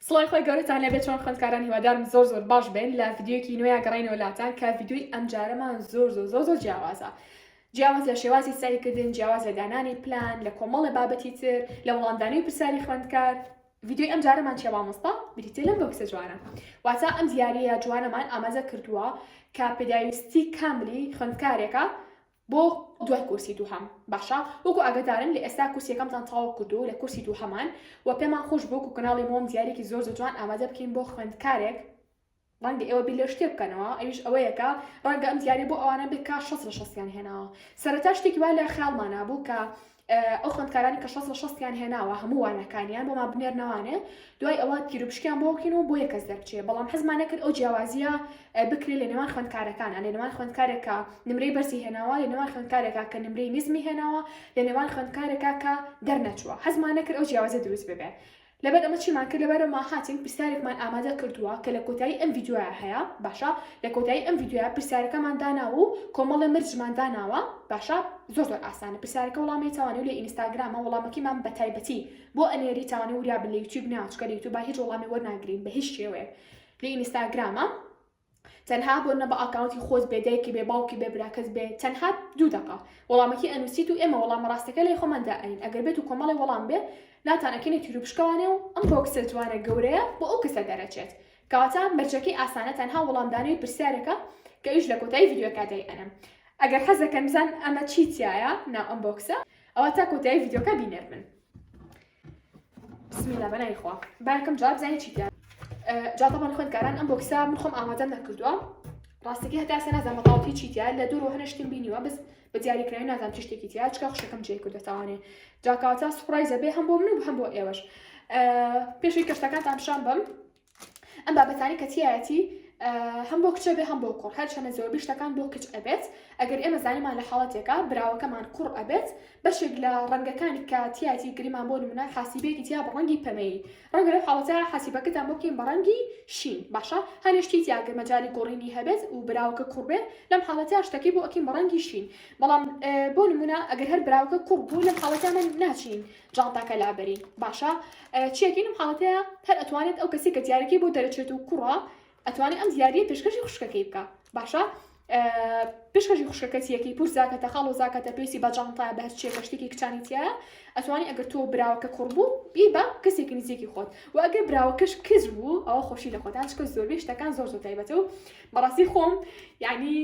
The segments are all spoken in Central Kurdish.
سڵاوی خوای گەورەتان لێبێت چۆن خوێندکاران هیوادارم زۆر زۆر باش بێن لە ڤیدیۆیەکی نوێیا گەڕینەوە لاتان کە ڤیدیۆی ئەمجارەمان زۆر زۆر زۆر زۆر جیاوازە جیاواز لە شێوازی سعیکردن جیاواز لە دانانی پلان لە کۆمەڵە بابەتی تر لە وڵامدانی پرسیاری خوێندکار ڤیدیۆی ئەم جارەمان چێ مامۆستا بریتێ لەم بۆکسە جوانە واتا ئەم دیارە جوانەمان ئامازە کردووە کە پێداویستی کاملی خوندکارێکە بۆ دوای کورسی دووهەم باشە وەکو ئاگدارن لە ئێستا کورسیەکەمتان تاو کردو لە کورسی دووهەمان و پێمان خوش بوو و کەناڵی مۆم دیارێکی زۆر زۆر جوان ئامادە بکەین بۆ خوێندکارێک ڕەنگە ئێوە بیر لە شتێ بکەنەوە ئەویش ئەوەیەکە ڕەنگە ئەم دیارە بۆ ئەوانە بێ کا شەست لە شەستیان هێناوە سەرەتا شتێکی وا لە خەیاڵمانابوو کە ئەو خوێندکارانی کە شەست لە شەستیان هێناوە هەموو وانەکانیان بۆ ما بنێرنەوانێ دوای ئەوە تیرروپشکیان بۆ بکەین و بۆ یە کەس دەرچێ بەڵام حەزمانە کرد ئەو جیاوازیە بکرێت لە نێوان خوێندکارەکان لە نێوان خوێندکارێکە نمرەی بەرزی هێناوە لە نێوان خوێندکارێکە کە نمرەی نزمی هێناوە لە نێوان خوێندکارێکە کە دەرنەچووە حەزمانە کرد ئەو جیاوازە دروست ببێ لەبەر ئەمە چیمان کرد لەبەرئەمە هاتین پرسیارێکمان ئامادە کردووە کە لە کۆتایی ئەم ڤیدیۆیە هەیە باشە لە کۆتایی ئەم ڤیدیۆیە پرسیارەکەمان داناوە و کۆمەڵێ مەرجمان داناوە باشە زۆر زۆر ئاسانە پرسیارەکە وەڵامی تاوانە و لە ئینستاگرامە وەڵامەکەیمان بە تایبەتی بۆ ئەنێری تاوانە وریابن لە یوتیوب نا چکە لە یوتیوبا هیچ وەڵامی وەرناگرین بە هیچ شێوەیەک لە ئینستاگرامە تەنها بۆ نە بە ئاکاونتی خۆت بێ دایکی بێ باوکی بێ براکەت بێ تەنها دوو دەقە وەڵامەکی ئەنووسیت و ئێمە وەڵامە ڕاستەکە لای خۆمان دائەنین ئەگەر بێت و کۆمەڵێ وەڵام بێ ناتان ئەکەینە تیروپشکەوانێ و ئەم بۆکسە جوانە گەورەیە بۆ ئەو کەسە دەرەچێت کەواتە مەرجەکەی ئاسانە تەنها وەڵامدانەوەی پرسیارەکە کە ئەویش لە کۆتایی ڤیدیۆکە دەیئەنم ئەگەر حەز دەکەن بزان ئەمە چی تایە ناو ئەم بۆکسە ئەوە تا کۆتایی ڤیدیۆکە بینەر بن بسم الله بەناوی خوا بایەکەم جواب زانین چی تیا جا طبعا خوێن کاران ئەم بۆکسا من خۆم ئامادەم نەکردووە ڕاستەکە هەتا ئێستا نازانم بەتاڵتی چی تیا لە دوور هەنە شتم بینیوە بس بە دیاریکراوی نازانم چ شتێکی تیا چکا خوشەکەم جێ کردو تاوانێ جاکاتە سوپڕایزە بێ هەم بۆ من و هەم بۆ ئێوەش پێشی کەشتەکانتان پیشان بم ئەم بابەتانەی کە تیایەتی هەم بۆ کچە بێ هەم بۆ کوڕ هەرچەنە زۆربی شتەکان بۆ کچ ئەبێت ئەگەر ئێمە زانیمان لە حاڵەتێکە براوەکەمان کوڕ ئەبێت بەشێک لە ڕەنگەکانی کە تیایەتی گریمان بۆ نمونە حاسیبێکی تیا بە ڕەنگی پەمەیی ڕەنگە لەو حاڵەتە حاسیبەکەتان بۆ بکەین بە ڕەنگی شین باشە هەر شتی تیا گەر مەجالی گۆڕینی هەبێت و براوەکە کوڕ بێت لەم حاڵەتە شتەکەی بۆ ئەکەین بە ڕەنگی شین بەڵام بۆ نمونە ئەگەر هەر براوەکە کوڕ بوو لەم حاڵەتە من ناچین جانتاکە لابەری باشە چیەکەین ئەم حاڵەتەیە هەر ئەتوانێت ئەو کەسی کە دیارەکەی بۆ دەرەچێت و کوڕە ئەتوانێت ئەم دیاریە پێشکەشی خوشکەکەی بکە باشە پێشکەشی خوشکەکەسیەکەی پور زاکەتە خاڵ و زاکەتە پێسی بە جانتای بە هەرچیەکە شتێکی کچانی تایە ئەتوانی ئەگەر تۆ براوەکە کوڕ بوو ئی بە کەسێکی نزیکی خۆت و ئەگەر براوەکەش کز بوو ئەوە خۆشی لە خۆتان چکە زۆربەی شتەکان زۆر زۆر تایبەتە و بەڕاستی خۆم یعنی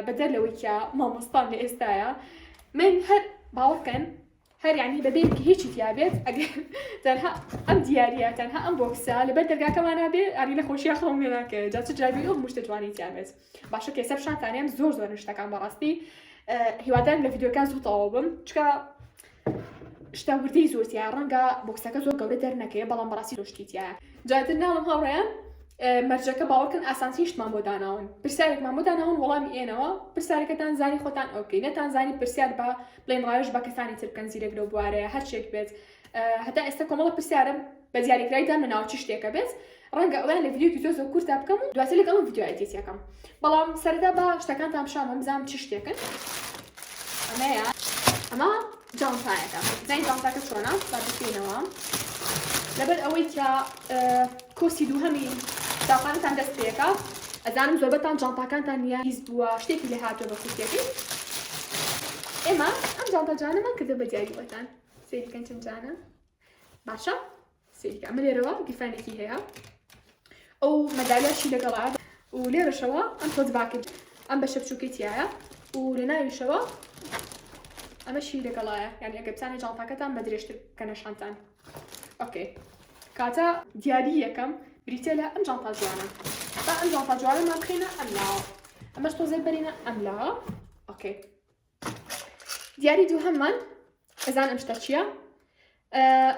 بەدەر لەوەی کە مامۆستان لە ئێستاە من هەر باوەڕکەن هەر یانی بەبێ ئینکە هیچی تیا بێت ئەگەر تەنها ئەم دیاریە تەنها ئەم بۆکسە لەبەر دەرگاکەمانە بێ ئاری لە خۆشییا خەڵم لێ ناکەوێت جا چ جاوی ئەو مشتە جوانی تیا بێت باشە کێسە پیشانتانیان زۆر زۆر شتەکان بەڕاستی هیوادارم لە ڤیددیوکان زوو تەواو بم چکە شتا وردەی زۆرتیا ڕەنگە بۆکسەکە زۆر گەورە دەرنەکەی بەڵام بەڕاستی دۆشتیتیە جاتر ناڵم هاوڕیان مەرجەکە باوەکەن ئاسانسی شتمان بۆ داناون پرسیارێکمان بۆ داناون وەڵامی ئێنەوە پرسیارەکەتان زانی خۆتان ئەوکەی نەتان زانی پرسیار بە بڵێن ڕاوێژ بە کەسانی تر بکەن زیرەک لەو بوارەیە هەرچێک بێت هەتا ئێستا کۆمەڵە پرسیارە بە دیاریکرایدا مناو چ شتێکە بێت ڕەنگە ئەویان لە ڤیدیۆکی زۆر زۆر کورتا بکەم و دواتر لەگەڵم ڤیدیۆایتیەکەم بەڵام سەردا بە شتەکانتان پیشانم بزانم چ شتێکن ئەمەیە ئەمە جانتایەکە زین جانتاکە چۆنا بابتێنەوە لەبەر ئەوەی کە کۆچی دووهەمی قوتابخانەتان دەست پێکا ئەزانم زۆربەتان جانتاکانتان نیە هیز بووە شتێکی لێ هاتوە بە کورتێتی ئێمە ئەم جانتا جانەمان کردە بە دیاری بۆتان سەیری کەن چەند جانە باشە سەیری ئەمە لێرەوە دیفانێکی هەیە ئەو مەدالیاشی لەگەڵا و لێرەشەوە ئەم تۆز باکرد ئەم بەشە بچووکەی تایە و لە ناویشەوە ئەمەشی لەگەڵایە یعنی ئەگەر بتانە جانتاکەتان بە درێژتر کەنە شانتان ئۆکەی کاتە. دیاری یەکەم بریتیە لە ئەم جانتا جوانە با ئەم جانتا جوانەمان بخەینە ئەم لاوە ئەمەش تۆزێ بەرینە ئەم لاوە ئۆکەی دیاری دوو هەممان ئەزان ئەم شتە چییە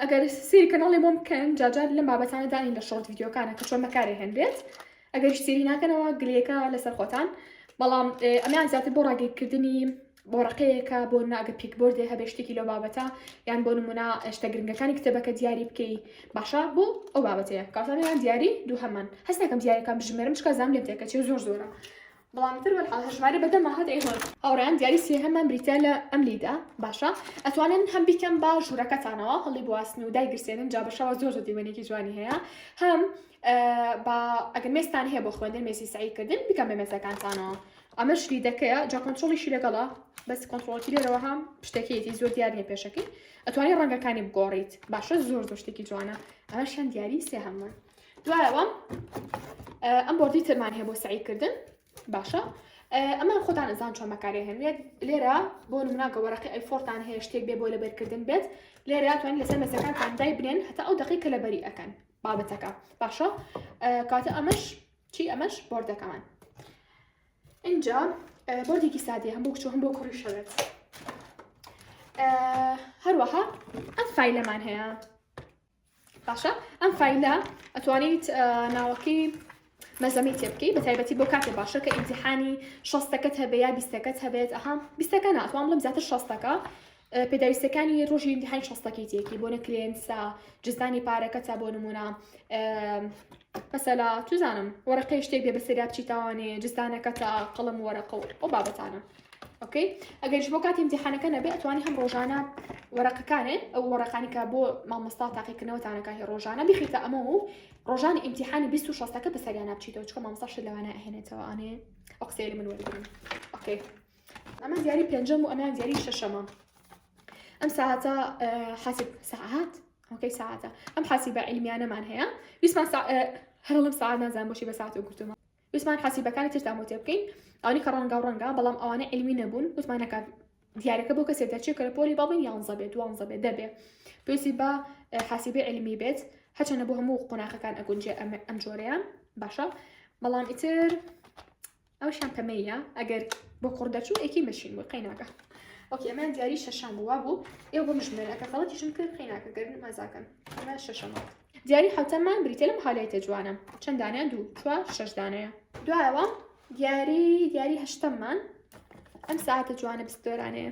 ئەگەر سری کەناڵی بۆم بکەن جاجار لەم بابەتانە داین لە شۆرت ڤیددیوکانە کە چۆن بەکارێ هێنرێت ئەگەر سری ناکەنەوە گلەکە لەسەر خۆتان بەڵام ئەمیان زیاتر بۆ ڕاگەیکردنی بۆ ڕقەیەکە بۆ ناگە پیک بردێ هەبێ شتێکی لەو بابەتە یان بۆ نمونە شتە گرنگەکانی کتێبەکە دیاری بکەی باشە بۆ ئەو بابەتەیە کاتانەیان دیاری دوو هەمان هەست ناکەم دیارەکەم بژمێرم چکە زام لێ تێکە چێ زۆر زۆرە بەڵامتر وەرحاڵ هەژمارە بەدەمە هەت ئەیهۆن هاوڕیان دیاری سێ هەمان بریتە لە ئەم لیدا باشە ئەتوانن هەم بیکەم بە ژوورەکەتانەوە هەڵی بواستن و دایگرسێنن جا بەشەوە زۆر زۆر دیوەنێکی جوانی هەیە هەم بە ئەگەر مێستان هەیە بۆ خوێندن مێسی سعیکردن بکەم بە مێزەکانتانەوە ئەمە شتی دەکەیە جا کۆنترۆڵیشی لەگەڵە بەس کۆنترۆڵکی لێرەوە هام پشتەکەیەتی زۆر دیار نیە پێشەکەی ئەتوانی ڕەنگەکانی بگۆڕیت باشە زۆر زۆر شتێکی جوانە ئەمە شەن دیاری سێ هەمووی دوایەوە ئەم بۆردی ترمان هەیە بۆ سعیکردن باشە ئەمە خۆتان ئەزان چۆن بەکارێ هێنێت لێرە بۆ نمونا گەوەرەقی ئەیفۆرتان هەیە شتێک بێ بۆ لەبەرکردن بێت لێرە توانین لەسەر مەزەکانتان دای بنێن هەتا ئەو دقی کە لەبەری ئەەکەن بابەتەکە باشە کاتە ئەمەش چی ئەمەش بۆردەکەمان ئینجا بۆردێکی سادی هەم بۆ کچۆ هەم بۆ کوڕی شەوێت هەروەها ئەم فیلەمان هەیە باشە ئەم فیلە ئەتوانیت ناوەکەی مەزەمی تێ بکەی بە تایبەتی بۆ کاتێ باشە کە ئیمتحانی شەستەکەت هەبێ یا بیستەکەت هەبێت ئەها بیستەکە ناتوان بڵم زیاتر شەستەکە پێداویستیەکانی ڕۆژی ئیمتیحانی شەستەکی تێکی بۆنە کرێنسا جزدانی پارەکەتە بۆ نمونە مەسەلا توزانم وەرەقی شتێک بێ بەسەریا بچی تاوانێ جزدانەکەتە قەڵم وەرەقە و ئەو بابەتانە ئۆکەی ئەگەرش بۆ کاتی امتحانەکە نەبێ ئەتوانی هەم ڕۆژانە وەرەقەکانێ ئەو وەرەقانی کە بۆ مامۆستا تاقیکردنەوەتانەکە هی ڕۆژانە بخیتە ئەمە و ڕۆژانی امتحانی 26ەکە بەسەریانە بچیتەوە چکە مامۆستا شت لەوانە ئەهێنێتەوە ئەێ ئۆکسێلی من وەرگن ئۆکەی ئەمە دیاری پێنجەم و ئەمیان دیاری شەشەمە ئەم ساعتە حەسب سەعات ئۆکەی ساعتە ئەم حەسی بە عیلمیانەمان هەیە ویسمان هەرڵم ساعت نازان بۆشی بە ساعت و گرتومە ویسمان حەسیبەکانی ترتان بۆ تێ بکەین ئەوانی کە ڕەنگا و ڕەنگە بەڵام ئەوانە علمی نەبوون وتمانەکە دیارەکە بۆ کەسێک دەچێت کە پۆلی باڵین یانزە بێت دوانزە بێت دەبێ پێویستی بە حاسیبی علمی بێت هەچەنە بۆ هەموو قۆناخەکان ئەگونجێ ئەم جۆرەیان باشە بەڵام ئیتر ئەوشان پەمەییە ئەگەر بۆ قوڕ دەچوو ئەکی مەشین بۆ قەی ناکە ئۆکی ئەمان دیاری شەشان بوو وا بوو ئێوە بۆ مژمێر ئەکە خەڵەتیشم کرد قەی ناکە گەر مەزاکەن ئەمە شەشەمە دیاری حەوتەممان بریتە لەم هالایتە جوانە چەند دانیان دوو چوار شەش دانەیە دوایەوە دیاری دیاری هەشتەممان ئەم ساعتە جوانە بستۆرانەیە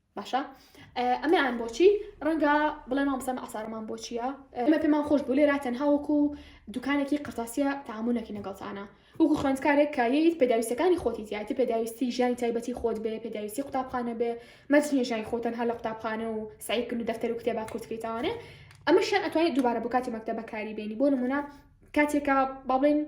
باشە ئەمەیان بۆچی ڕەنگە بڵێ مامسە ئاسارمان بۆچیە ئەمە پێمان خۆش بوو لێرا تەنها وەکو دوکانێکی قرتاسیە تامونەکی نەگەڵتانە وەکو خوێندکارێک کاییت پێداویستەکانی خۆتی زیاتر پێداویستی ژیانی تایبەتی خۆت بێ پێداویستی قوتابخانە بێ مەجنی ژای خۆ تەنها لە قوتابخانە و سعیکرد و دەفتەر و کتێبا کورتکەیتوانێ ئەمەشیان ئەتوانێت دووبارە بۆ کاتی مەکتە بەکاری بێنی بۆ نمونە کاتێکە باڵێن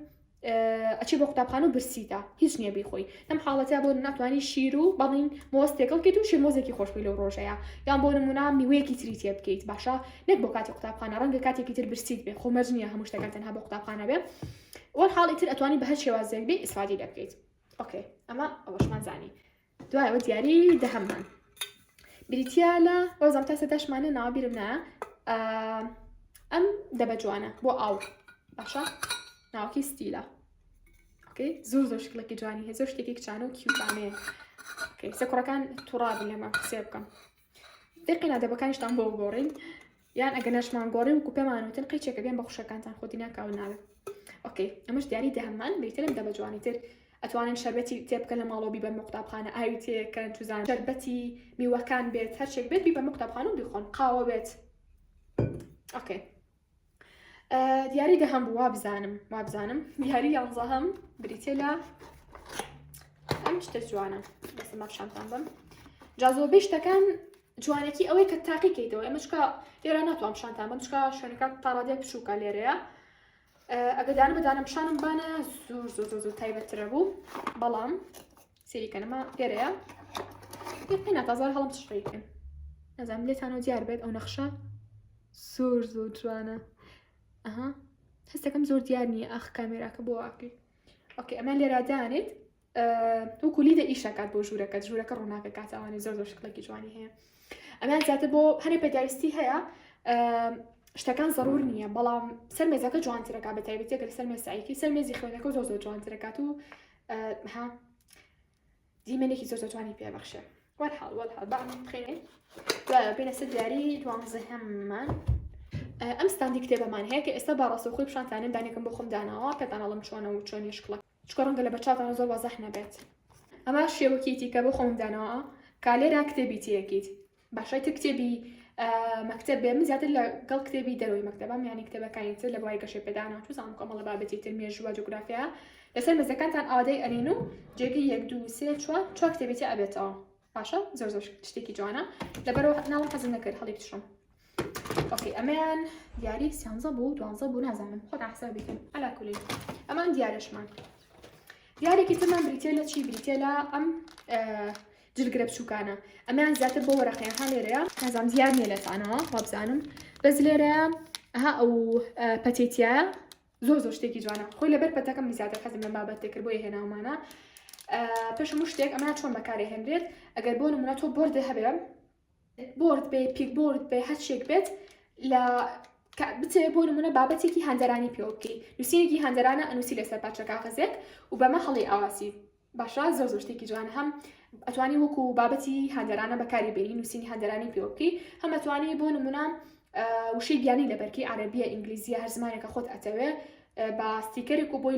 ئەچی بۆ قوتابخانە و برسیتە هیچ نییە بیخۆی لەم حاڵەتە بۆ ناتوانانی شیر و بەڵین مۆست تێکەڵ بکەیت و شێمۆزێکی خۆش بووی لەو ڕۆژەیە یان بۆ نمونا میوەیەکی تری تێ بکەیت باشە نەک بۆ کاتی قوتابخانە ڕەنگە کاتێکی تر برسیت بێ خۆمەرج نییە هەموو شتەکان تەنها بۆ قوتابخانە بێ وەن حاڵی تر ئەتوانی بە هەر شێوازێک بێ ئیسفادی لێ بکەیت ئۆکێ ئەمە ئەوەشمان زانی دوای ئەوە دیاری دەهەممان بریتە لە وەزم تا سەداشمانە ناوە بیرم نایە ئەم دەبە جوانە بۆ ئاو باشە ناوکی ستیلە زۆر زۆر شکلێکی جوانی هەیە زۆر شتێکی کچانە و کیوتانەیە سە کوڕەکان توڕابن لەمە قسێ بکەم دقینا دەبەکانیشتان بۆ گۆڕین یان ئەگەر نەشمان گۆڕی وکو پێمان وتن قیچێکە بێن بە خوشەکانتان خۆ دینا کاول نابێت ئۆکەی ئەمەش دیاری دەهەمان بیترم دەبە جوانی تر ئەتوانن شەربەتی تێبکە لە ماڵەوە بیبەن مقتابخانە ئاوی تێکەن توزان شەربەتی میوەکان بێت هەرچێک بێت بیبە مقتابخان و بیخۆن قاوە بێت ئۆکەی دیاری دە هەم بووە بزانم وا بزانم دیاری یانزە هەم بریتێ لە ئەم شتە جوانە بەسمە شانتان بم جازۆبی شتەکان جوانێتی ئەوەی کە تاقی کەیتەوە ئەمە چکە لێرا ناتوان پیشانتان بم چکە شوێنەکە تاڕادێک بچووکە لێرەیە ئەگەدانە بەدانە پیشانم بانە زۆر زۆر زۆر زۆر تایبەتترە بوو بەڵام سریکەنەما لێرەیە یقینا تازار هەڵم شڕیکن نەزانم لێتانەوە دیار بێت ئەو نەخشە زۆر زۆر جوانە ئەها هەستەکەم زۆر دیار نییە ئاخ کامێراکە بۆ واکەی ئۆکە ئەمە لێرادانێت ئەو کولی دە ئیشەکات بۆ ژوورەکەت ژوورەکە ڕووناکە کاتوانێت زۆر زۆر شکڵێکی جوانی هەیە ئەمان زیاتر بۆ هەرێ پێداویستی هەیە شتەکان ضرور نییە بەڵام سەر مێزەکە جوانترەکە بە تایبەتێک لە سەر مێسایکی سەر مێزی خوێنەکە زۆر زۆر جوانترەکات و ها دیمەنێکی زۆر جوانی پێبەخشێ وەرحاڵ وەرحاڵ بەڵام بخێنێ بینە سەر دیاری دوانزە هەممان ئەم ستاندی کتێبەمان هەیە کە ئێستا باڕاستە خۆی پیشانتانێن دانێکم بۆ خۆم داناوە پێتانەڵم چۆنە و چۆنی شکڵەکە چونکە ڕەنگە لە بەرچاوتانە زۆر وازح نەبێت. ئەمە شێوەکیتی کە بۆ خۆم دانەوە کا لێرا کتێبی تێکیت باشای تر کتێبی مەکتب بێ من زیاتر لە گەڵ کتێبی دەرەوەی مەکتەبام یانی کتێبەکانی تر لە بڵای گەشێ پێدانا توزانم کۆمەڵە بابەتی تر مێژووە جوگرافیا لەسەر مەزەکانتان ئادەی ئەلین و جێگە یەک دوو سێ چوار چوار کتێبێتی ئەبێتەوە باشە زۆر زۆر شتێکی جوانە لەبەرەوە ناوم حەزم نەکرد هەڵی بچڕم ئۆکی ئەمەیان دیاری سیانزە بوو دوانزە بوو نازانم خۆ ناحسا بکەن ئەلاکولی ئەمان دیارشمان دیارێکی ترمان بریتە لە چی بریتە لە ئەم جلگرە بچووکانە ئەمیان زیاتر بۆ وەرەقەیان ها لێرەیە نازام دیار نیە لەتانەوە وابزانم بەس لێرەیە ها ئەو پەتێتیایە زۆر زۆر شتێکی جوانە خۆی لەبەر پەتەکەم زیاتر حەزم لە بابەتێک کرد بۆی هێناومانە پێش مشتێک ئەمە چۆن بەکارێ هێنرێت ئەگەر بۆ نمونە تۆ بردە هەبێ بۆرد بێ پیک بۆرد بێ هەچێک بێت لە بتێ بۆ نمونە بابەتێکی هەندەرانی پێوە بکەیت نووسینێکی هەندەرانە ئەنووسی لەسەر پارچە کاغەزێک و بەمە هەڵی ئاواسی باشە زۆر زۆر شتێکی جوان هەم ئەتوانی وەکو بابەتی هەندەرانە بەکاری بێنی نووسینی هەندەرانی پێوە بکەی هەمەتوانی بۆ نمونە وشەی بیانی لەبەرکی عربیە ئینگلیزیە هەر زمانێکە خۆت ئەتەوێ بە ستیکەرێک و بۆی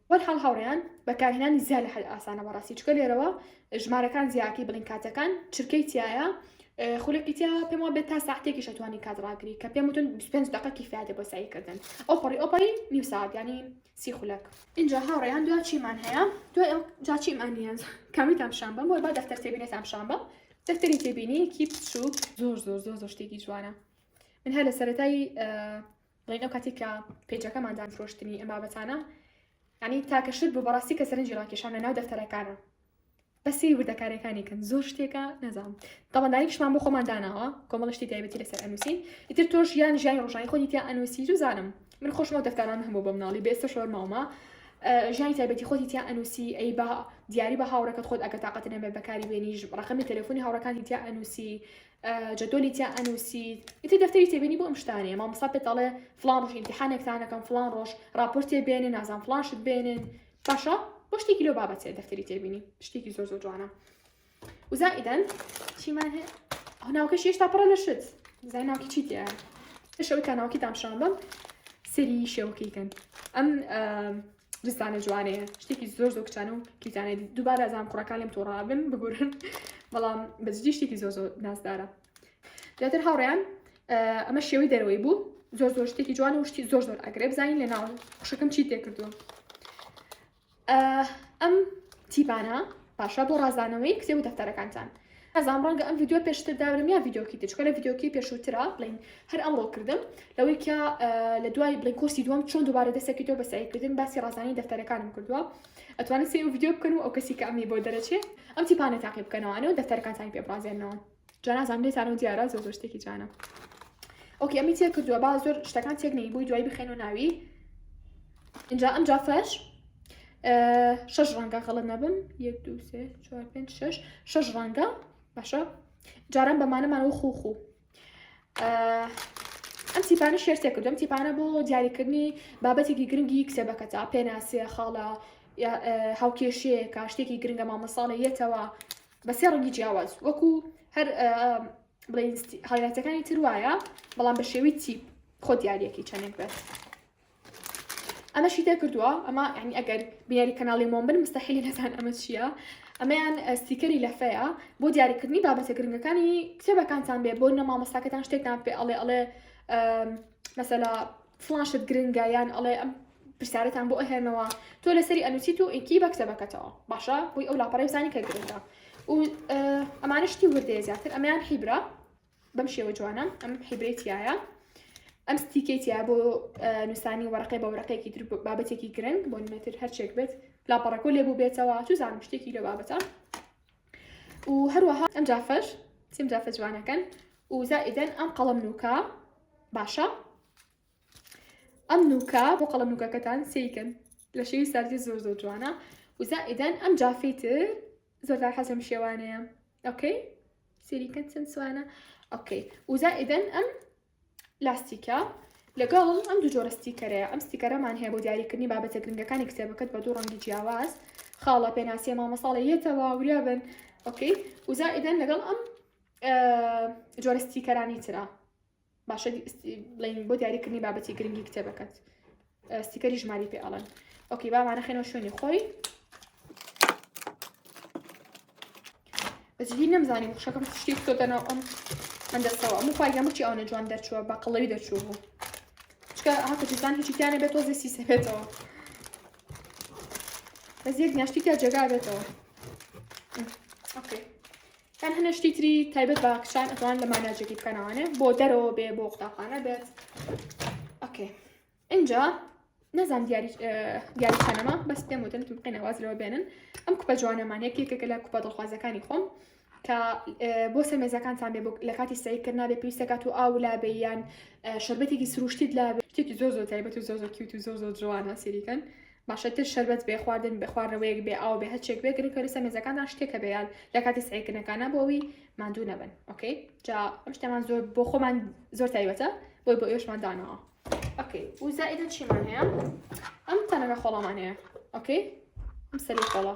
وەلحاڵ هاوڕێیان بەکارهێنانی زیا لە حەل ئاسانە بەڕاستی چکە لێرەوە ژمارەکان زیاتی بڵین کاتەکان چرکەی تایە خولەکی تیا پێم وابێت تا ساعتێکی شەتوانی کات ڕاگری کە پێم وتن 25 دقەکی فیادە بۆ سایکردن ئەو پەڕی ئۆپەری نیو ساعت ینی سی خولەک اینجا هاوڕێیان دو چیمان هەیە دو جاچیمان نیە کامیتان شان بم وەبا دەفتەر تێبینێتان شان بم دەفتەری تێبینیەکی بچوو زۆر زۆر زۆر زۆر شتێکی جوانە من هەر لە سەرەتایی دەڵێن ئەو کاتێک کە پێجەکەمان دان فرۆشتنی ئەم بابەتانە ینی تاکە شت بوو بەڕاستی کە سەرنجی ڕاکێشان لە ناو دەفتەرەکانە بەسی وردەکارەکانی کەن زۆر شتێکە نەزانم دەڵندایکشمان بۆ خۆمان داناوە کۆمەڵشتی تایبەتی لەسەر ئەنووسین ئیتر تۆش یان ژیانی ڕژانی خۆی تیا ئەنووسی زوزانم من خۆشمەوە دەفتاران هەموو بە مناڵی بێستە شۆرماومە ژیانی تایبەتی خۆتی تیا ئەنووسی ئەی بە دیاری بە هاوڕەکەت خۆت ئەگە تااقەتە نەبێت بەکاری بێنیش ڕقمی تەلەفۆنی هاوڕەکانی تیا ئەنووسی جەدۆلی تیا ئەنووسیت ئیتر دەفتەری تێبینی بۆ ئەم شتانەیە مامۆستا پێت دەڵێ فڵان ڕۆژ ئیمتیحانێکتان دەکەم فڵان ڕۆژ ڕاپۆرتێ بێنێ نازان فڵان شت بێنن باشە بۆ شتێکی لەو بابەتێ دەفتەری تێبینی شتێکی زۆر زۆر جوانە وزائیدەن چیمان هەیە ناوکەش هێشتا پڕە لە شت زای ناوکی چی تیا شەوەی کاناوکی تامشان بم سری شێوەکەی کەن ئەم جزتانە جوانەیە شتێکی زۆر زۆر کچانە و کیتانە دووبارە ئەزان کوڕەکان لێم تۆڕابن ببورن بەڵام بەجدی شتێکی زۆر زۆر نازدارە دواتر هاوڕیان ئەمە شێوەی دەرەوەی بوو زۆر زۆر شتێکی جوان و شتی زۆر زۆر ئەگرێ بزانین لە ناو خوشەکەم چی تێکردووە ئەم تیبانە پاشا بۆ ڕازانەوەی کتێب و دەفتەرەکانتان نازانم ڕەنگە ئەم ڤیدیۆ پێشتر دابنێم یا ڤیدیۆکی تر چونکە لە ڤیدیۆکەی پێشووترا بڵێن هەر ئەمڕۆ کردم لەوەی کە لە دوای بڵێن کۆرسی دووەم چۆن دووبارە دەسێکی تۆ بەسەیکردن باسی ڕازانی دەفتەرەکانم کردووە ئەتوانن سێ و ڤیدیۆ بکەن و ئەو کەسی کە ئەمی بۆ دەرەچێ ئەم تیپانە تاقی بکەنەوەوانەوە دەفتەرەکانتانی پێ بڕازێنەوە جانازان لێتان و دیارە زۆر زۆر شتێکی جوانە ئۆکی ئەمی تێ کردووە با زۆر شتەکان تێک نەی بووی دوای بخێن و ناوی ئینجا ئەم جافەش شەش ڕەنگە غەڵت نەبم یەک دو سێ چوار پێنج شش شەش ڕەنگە باشە جاران بەمانەمانەوە خوو خوو ئەم تیپانە شێرسێ کردم تیپانە بۆ دیاریکردنی بابەتێکی گرنگی کتێبەکە تا پێناسێ خاڵە هاوکێشەیە کا شتێکی گرنگە مامەساڵە یەتەوە بە سێ ڕەنگی جیاواز وەکو هەر هاواتەکانی تر وایە بەڵام بە شێوی تیپ خۆ دیارەکی چەندێک بێت ئەمەشی تێ کردووە ئەمە ینی ئەگەر بینەری کەناڵی مۆم بن مستەحیلی نەزان ئەمە چییە ئەمەیان سیکەری لەفەیە بۆ دیاریکردنی بابەتە گرنگەکانی کتێبەکانتان بێ بۆ نە مامۆستاکەتان شتێکتان پێ ئەڵێ ئەڵێ مەسەلا فلانشت گرنگە یان ئەڵێ ئەم پرسیارەتان بۆ ئەهێنەوە تۆ لەسەری ئەنووسیت و ئینکی بە کتێبەکەتەوە باشە بۆی ئەو لاپەڕی زانی کە گرنگە و ئەمانشتی وردەیە زیاتر ئەمیان حیبرا بەم شێوە جوانە ئەم حیبرەی تایە ئەم ستیکەی تیا بۆ نووسانی وەرەقی بە وەرەقێکی تر بابەتێکی گرنگ بۆ نمەتر هەرچێک بێت لاپەڕەکۆ لێ بوو بێتەوە توزانم شتێکی لە بابەتە و هەروەها ئەم جافەش سم جافە جوانەکەن و زائدەن ئەم قەڵم نوکە باشە ئەم نوکە بۆ قەڵم نوکەکەتان سیکن لە شێوی ساردی زۆر زۆر جوانە و زائدەن ئەم جافی تر زۆر حەزم شێوانەیە ئۆکەی سیریکەن چەند سوانە ئۆکەی وزائدەن ئەم لاستیکە لەگەڵ ئەم دوو جۆرە ستیکەرەیە ئەم ستیکەرەمان هەیە بۆ دیاریکردنی بابەتە گرنگەکانی کتێبەکەت بە دوو ڕەنگی جیاواز خاڵە پێناسیە مامەساڵە یەتەوە وریا بن ئۆکەی وزائدەن لەگەڵ ئەم جۆرە ستیکەرانی ترا باشە بڵین بۆ دیاریکردنی بابەتی گرنگی کتێبەکەت سیکەری ژماری پێ ئەڵەن ئۆکی بامانە خێنەوە شوێنی خۆی بەجدی نەمزانی وشەکەم شتی تۆدەنەوە ئەم هەندەسەوە ئەم خخوای گەمەکی ئەوە جوان دەرچووە بە قڵەوی دەرچوو بوو چکە هاکە جوان هیچی تیانە بێت تۆزی سیسە بێتەوە بەس یەک ناشتی تیا جێگا بێتەوە ئۆکەی هەر هەنە شتی تری تایبەت بە کچان ئەتوان لە مانا جێگی بکەنەوانێ بۆ دەرەوە بێ بۆ قوتابخانە بێت ئۆکێ اینجا نەزان دیاری دیاری چەنەما بەس پێم وتن بقینە وازرەوە بێنن ئەم کوپە جوانەمان یەک یەکێکە لە کوپە دڵخوازەکانی خۆم کە بۆ سەر مێزەکانتان بێ لە کاتی سەیکرد نابێ پێویستەکات و ئاو لابێ یان شربەتێکی سروشتیت لابێ شتێکی زۆ زۆ تایبەت و زۆ زۆ کیوت و زۆ زۆ جوانە سریکەن باشە تر شەربەت بێ خواردن بێ خواردنەوەیەک بێ ئاو بێ هەرچێک بێ گرنگ کە لەسەر مێزەکانتان شتێک هەبێ یان لە کاتی سەعیکردنەکانە بۆ ئەوی ماندوو نەبن ئۆکەی جا ئەم شتەمان زۆر بۆ خۆمان زۆر تایبەتە بۆی بۆ ئێشمان داناوە ئۆکەی و زائیدە چیمان هەیە ئەم تەنەکە خۆڵامان هەیە ئۆکەی ئەم سەری خۆڵە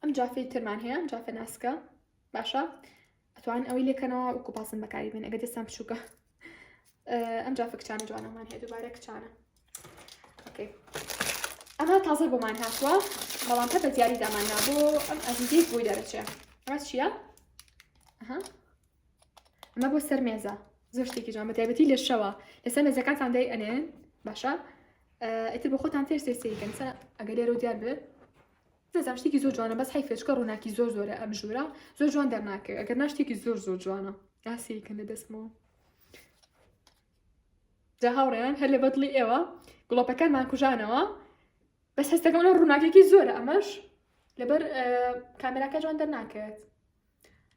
ئەم جافەی ترمان هەیە ئەم جافە ناسکە باشە ئەتوان ئەوی لێکەنەوە وەکو بازم بەکاری بێن ئەگە دەستان بچووکە ئەم جافە کچانە جوانەمان هەیە دووبارە کچانە ئۆکەی ئەمە تازە بۆمان هاتووە بەڵام هە بە دیاری دامان نابۆ ئەم ئەزیزەی بۆی دەرەچێ ئەمە چییە؟ ئەمە بۆ سەر مێزە زۆر شتێکی جوان بە تایبەتی لە شەوە لەسەر مێزەکانتان دای ئەنێن باشە ئیتر بۆ خۆتان تێر سێسەیکەن سە ئەگەر لێرە دیار بێت نازانم شتێکی زۆر جوانە بەس حەیفە چکە ڕووناکی زۆر زۆرە ئەم ژوورە زۆر جوان دەرناکەوێت ئەگەر نا شتێکی زۆر زۆر جوانە ئاسەیەکە لە دەستمەوە جا هاوڕێیان هەر لە بەدڵی ئێوە گڵۆپەکانمان کوژانەوە بەس هەستەکەم لە ڕووناکێکی زۆرە ئەمەش لەبەر کامێراکە جوان دەرناکەوێت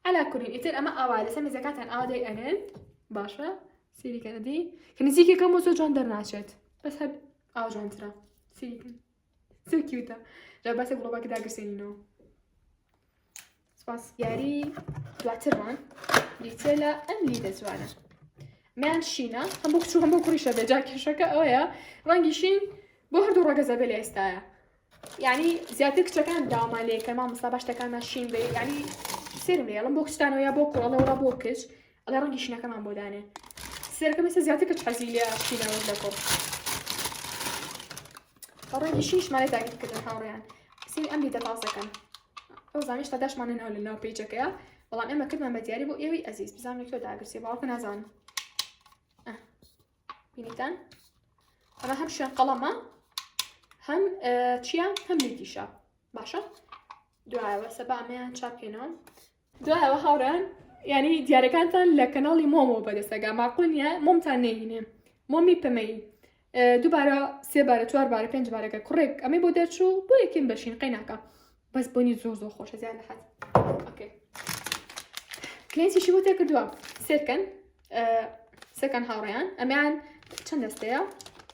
ئەلا کوری ئیتر ئەمە ئاوا لەسەر مێزەکاتان ئاوادەی ئەنێن باشە سیریکەدی کە نزیکەکەم بۆ زۆر جوان دەرناچێت بەس هەر ئاو جوانترە سیریکن سو کیوتە جا باسە گڵۆباکە داگرسێنینەوە سپاس یاری دواترمان دیتێ لە ئەم لیدە جوانە میان شینە هەم بۆ کچ هەم بۆ کوڕیشە بێجا کێشەکە ئەوەیە ڕەنگی شین بۆ هەردوو ڕەگەزە بێ لە ئێستاە یعنی زیاتر کچەکان داوامان لێکە مامۆستا باشتەکانمان شین بێ ینی سرم لێڵم بۆ کچتانەوە یا بۆ کوڕڵەوە بۆ کچ ئەڵێ ڕەنگی شینەکەمان بۆ دانێ سێرەکە بەسە زیاتر کەچ حەزی لێ شینەوە لە کۆ ڕەنگی شیشمانێ داگیر کردن هاوڕیان سری ئەم دیدە تازەکەن ئەو زانیش تا داشمانە ناو لە ناو پیجەکەیە بەڵام ئێمە کردمان بە دیاری بۆ ئێوەی ئەزیز بزانم تۆ داگرسێ باوکە نازانم بینیتان ئەمە هەم شوێن قەڵەمە هەم چیە هەم لیتیشە باشە دوایەوە سەبامیان چاپێنەوە دوای ئەوە هاوڕێیان یعنی دیارەکانتان لە کەناڵی مۆمەوە بەدەستەگا ماقول نیە مۆمتان نێینێ مۆمی پەمەیی دووبارە سێ بارە چوار بارە پێنج بارەکە کوڕێک ئەمەی بۆ دەرچوو بۆ یەکێن بەشین قەیناکە بەس بۆنی زۆر زۆر خۆشە زیان لە حەز کلێنسیشی بۆ تێ کردووە سێرکەن سەکەن هاوڕێیان ئەمیان چەند دەستەیە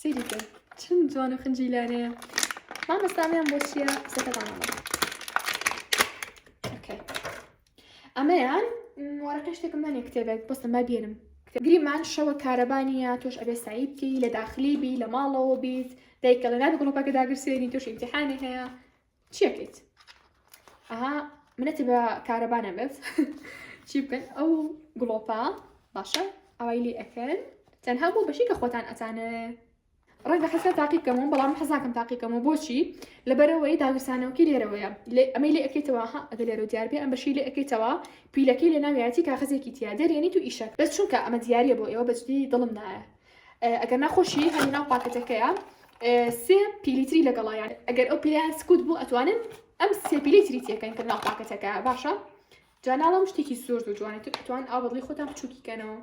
سەیری کە چن جوان و خنجی لارەیە مامە سامیان بۆ چییە قسەکە دامەوە ئەمەیان وەرەقی شتێکم نانێ کتێبێک بەسم با بێنم گریمان شەوە کارەبانیە تۆش ئەبێ سعی بکەی لە داخلی بی لە ماڵەوە بیت دایکە لە نابگوڵپەکە داگرسێنی تۆش امتحانی هەیە چیەکەیت ئەها منەتی بە کارەبا نەبێت چی بکەن ئەو گڵۆپە باشە ئەوەی لێ ئەکەن تەنها بۆ بەشی کە خۆتان ئەتانە ڕێک بە حەسە تاقیکەمەوە بەڵام حەزاکەم تاقیکەمەوە بۆچی لەبەرەوەی داگرسانەوەکی لێرەوەیە لێ ئەمەی لێ ئەکەیتەوە ها ئەگە لێرە دیاربێ ئەم بەشی لێ ئەەکەیتەوە پیلەکەی لە ناویاتی کاخەزێکی تیا دەرێنیت و ئیشەکە بەس چونکە ئەمە دیارە بۆ ئێوە بەجدی دڵم نایە ئەگەر نا خۆشی هەر لەناو پاکەتەکەیە سێ پیلی تری لەگەڵا یان ئەگەر ئەو پیلیان سکوت بوو ئەتوانم ئەم سێ پیلی تری تێکەین کە ناو پاکەتەکە باشە جاناڵم شتێکی زۆر زۆر جوانێت ئەتوان ئاو بەڵی خۆتان بچووکی کەنەوە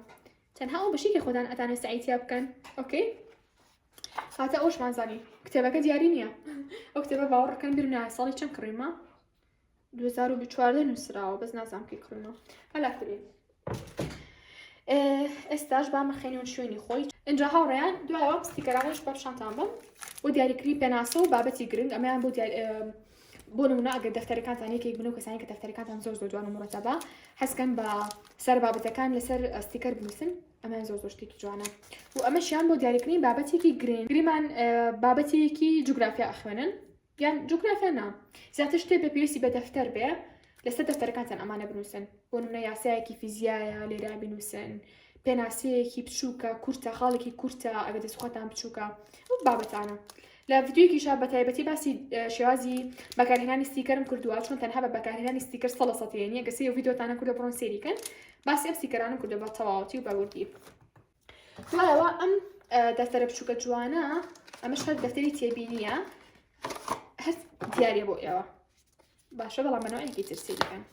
تەنها ئەو بەشێکی خۆدان ئەتانە سعیتیا بکەن ئۆکەی خاتە ئەوشمان زانی کتێبەکە دیاری نییە ئەو کتێبە باوەڕەکەم بیر نایە ساڵی چەند کڕیمە دوو هەزار و بیست و چوار نووسراوە بەس نازانم کەی کڕینەوە هەلاکتبێ ئێستاش با مەخێنەوە شوێنی خۆی ئەجا هاوڕێیان دوایەوە پستیکەرانش بەر شانتان بم بۆ دیاریکردنی پێناسە و بابەتی گرنگ ئەمەیان بۆ بۆ نمونە ئەگەر دەفتەرەکانتان یەکێک بن و کەسانی کە دەفتەرەکانتان زۆر زۆر جوان و مرەتەبە حەزکەن بە سەر بابەتەکان لەسەر ئەستیکەر بنووسن ئەمان زۆر زۆر شتێکی جوانە و ئەمەشیان بۆ دیاریکردنی بابەتێکی گرنگ گریمان بابەتێکی جوگرافیا ئەخوێنن یان جوگرافیا نا زیاتر شتێ بێ پێویستی بە دەفتەر بێ لەسەر دەفتەرەکانتان ئەمانە بنووسن بۆ نمونە یاسایەکی فیزیایە لێرە بنووسن پێناسەیەکی بچووکە کورتە خاڵێکی کورتە ئەگە دەسوخەتان بچووکە ئەو بابەتانە لە ڤیددیوکی شا بە تایبەتی باسی شێوازی بەکارهێنانی ستیکەرم کردووە چۆن تەنها بە بەکارهێنانی ستیکەر سەڵە سەتێنیە گەسی ڤیددیوتانە کردە بڕۆن سێریکەن باسی ئەم سیکەرانم کردو بە تەواوەتی و بەوردی دوایەوە ئەم دەفتەرە بچووکە جوانە ئەمەش هەر دەفتەری تێبینیە هەر دیارە بۆ ئێوە باشە بەڵام بەنەوەیەکی ترسی دەکەن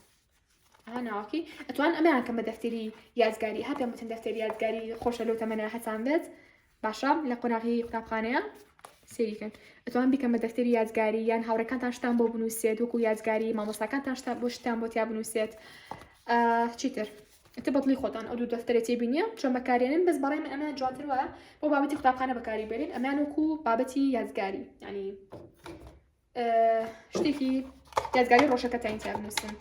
ناوەکی ئەتوان ئەمیان کەمە دەفتەری یادگاری هەپێ متن دەفتەری یادگاری خۆشە لەو تەمەە هەتان بێت باشە لە قۆناغی قوتابخانەیە سریکەن ئەتوان بیکەمە دەفتەری یادگاری یان هاوڕەکانتان شتان بۆ بنووسێت وکو یادگاری مامۆساکانتان شتا بۆ شتان بۆ تیا بنووسێت چیتر ئەتە بەدڵی خۆتان ئەو دوو دەفتەرە تێبینیە چۆن بەکارێنن بەس بەڕای من ئەمەیان جوانتر وایە بۆ بابەتی قوتابخانە بەکاری بێنن ئەمیان وەکو بابەتی یادگاری ینی شتێکی یادگاری ڕۆژەکە تاین تیا بنووسن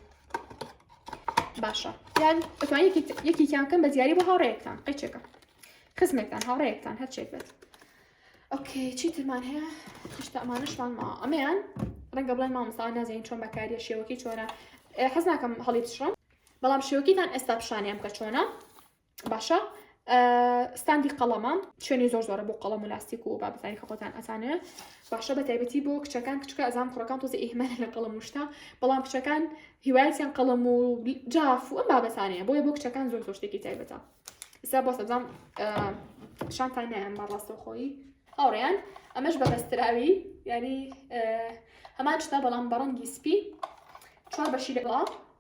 باشە یان ئەتوان یەکیان بکەن بە دیاری بۆ هاوڕێکتان قەچێکە خزمێکتان هاوڕێکتان هەرچێک بێت ئۆکەی چی ترمان هەیە هشتا ئەمانشمان ما ئەمەیان ڕەنگە بڵێن مامەسا نازانین چۆن بەکاریە شێوەکەی چۆنە حەز ناکەم هەڵی بچڕم بەڵام شێوەکیتان ئێستا پیشانیان بکە چۆنە باشە ستاندی قەڵەمە شوێنی زۆر زۆرە بۆ قەڵەم و لاستیک و با بزانانی خۆتان ئەزانێ باشە بە تایبەتی بۆ کچەکان کچکە ئەزان کوڕەکان تۆزی ئیهمە لە قەڵم وشتا بەڵام کچەکان هیوایەتیان قەڵم و جاف و ئەم بابەتانەیە بۆیە بۆ کچەکان زۆر زۆر شتێکی تایبەتە ئستا بۆ سەبزام شانتان نیان بە ڕاستەخۆی هاوڕیان ئەمەش بە بەستراوی ینی هەمان شتا بەڵام بەڕەنگی سپی چوار بەشی لەڵام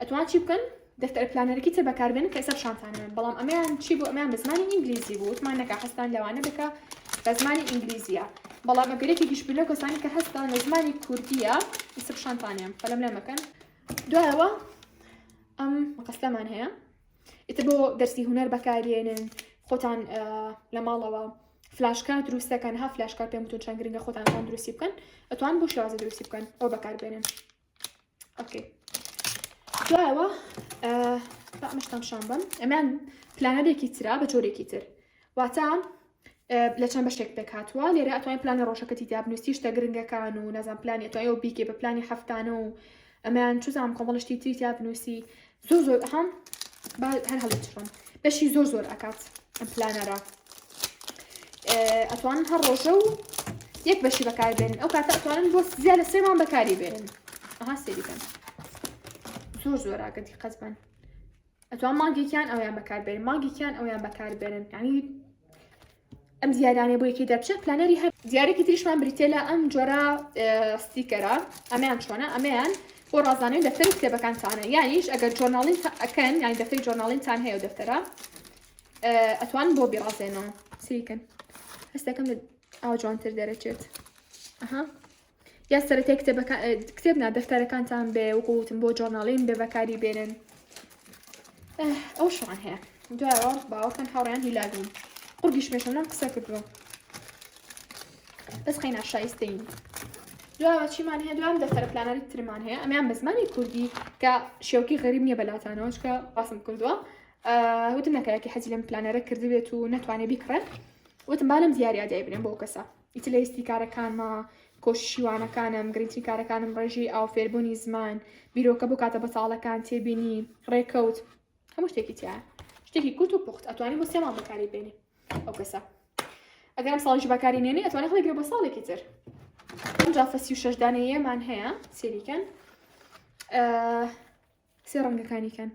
ئەتوان چی بکەن دەفتەرە پلانەرەکی تر بەکار بێنن کە ئێستا پیشانتانەوێن بەڵام ئەمەیان چی بوو ئەمیان بە زمانی ئینگلیزی بوو وتمان نەکا حەزتان لەوانە بکا بە زمانی ئینگلیزیە بەڵام ئەگەر یەکێکیش بنەو کەسانی کە هەستان لە زمانی کوردیە ئیسە پیشانتانەیەم فەلەم لە مەکەن دوایەوە ئەم قەستەمان هەیە ئیتە بۆ دەرسی هوەر بەکارێنن خۆتان لە ماڵەوە فلاشکار دروستەکەن ها فلاشکار پێم بتون چەند گرنگە خۆتان خۆن دروستی بکەن ئەتوان بۆ شێوازە دروستی بکەن ئەو بەکاربێنن ئۆکەی دوایەوە ئەمەشتان شان بم ئەمان پلانەرێکی ترا بە جۆرێکی تر واتە لە چەند بەشێک پێکاتوە لێرە ئەتوانین پلانی ڕۆژەکەتی دابنووسی شتە گرنگەکان و نازان پلانی ئەتوای و بیکێ بە پلانی هەفتانە و ئەمان چزانام کۆمەڵشتی تری تا بنووسی زۆر زۆر ئەهەم با هەر هەڵی چڕم بەشی زۆر زۆر ئەکات ئەم پلانەرە ئەتوان هەر ڕۆژە و یەک بەشی بەکاربێن ئەو کاتە ئەتوانن بۆ زیا لە سێمان بەکاری بێنن ئەها سێریکەن زۆر زۆر ئاگەتی قەزبن ئەتوان مانگێکیان ئەویان بەکاربێن مانگێکیان ئەویان بەکاربێنن ینی ئەم دیارانەی بۆ یەکەی دەربچێت پلانەری هەر دیارێکی تریشمان بریتیە لە ئەم جۆرە ستیکەرە ئەمەیان چۆنە ئەمەیان بۆ ڕازانین دەفتەر و کتێبەکانتانە یانیش ئەگەر جۆرناڵین ئەکەن یانی دەفتەری جۆرناڵینتان هەیە و دەفتەرە ئەتوان بۆ بیڕازێنەوە سیکەن هەستەکەم ئاو جوانتر دەرەچێت ئەها یا سەرەتای کتێبەکە کتێب نا دەفتەرەکانتان بێ وەکو وتم بۆ جۆرناڵین بێ بەکاری بێنن ئەو شوان هەیە دوایەوە باوەکەن هاوڕیان هیلاگوون قوردیش مێشم نەم قسە کردووە بەس قەینا شایستەین دوایەوە چیمان هەیە دوام دەفتەرە پلانەری ترمان هەیە ئەمیان بە زمانی کوردی کە شێوکی غەریب نییە بەلاتانەوە چکە باسم کردووە وتم نەکەیەکی حەجی لەم پلانەرە کردبێت و نەتوانێت بیکڕێت وتم بالم دیارە دای بنێن بۆ کەسە ئیتر لە لیستی کارەکانما کۆششی وانەکانم، گرنگترین کارەکانم ڕێژەی ئاو، فێربوونی زمان، بیرۆکە بۆ کاتە بەتاڵەکان، تێبینی، ڕێکەوت، هەموو شتێکی تیایە. شتێکی کورت و پوخت ئەتوانی بۆ سێ ماڵ بەکاری بێنی ئەو کەسە. ئەگەر ئەم ساڵیش بەکاری نێنی ئەتوانێت هەڵیگرە بۆ ساڵێکی تر. ئەم جافە سی و شەش دانەیەمان هەیە سێریکەن. کچە ڕەنگەکانی کەن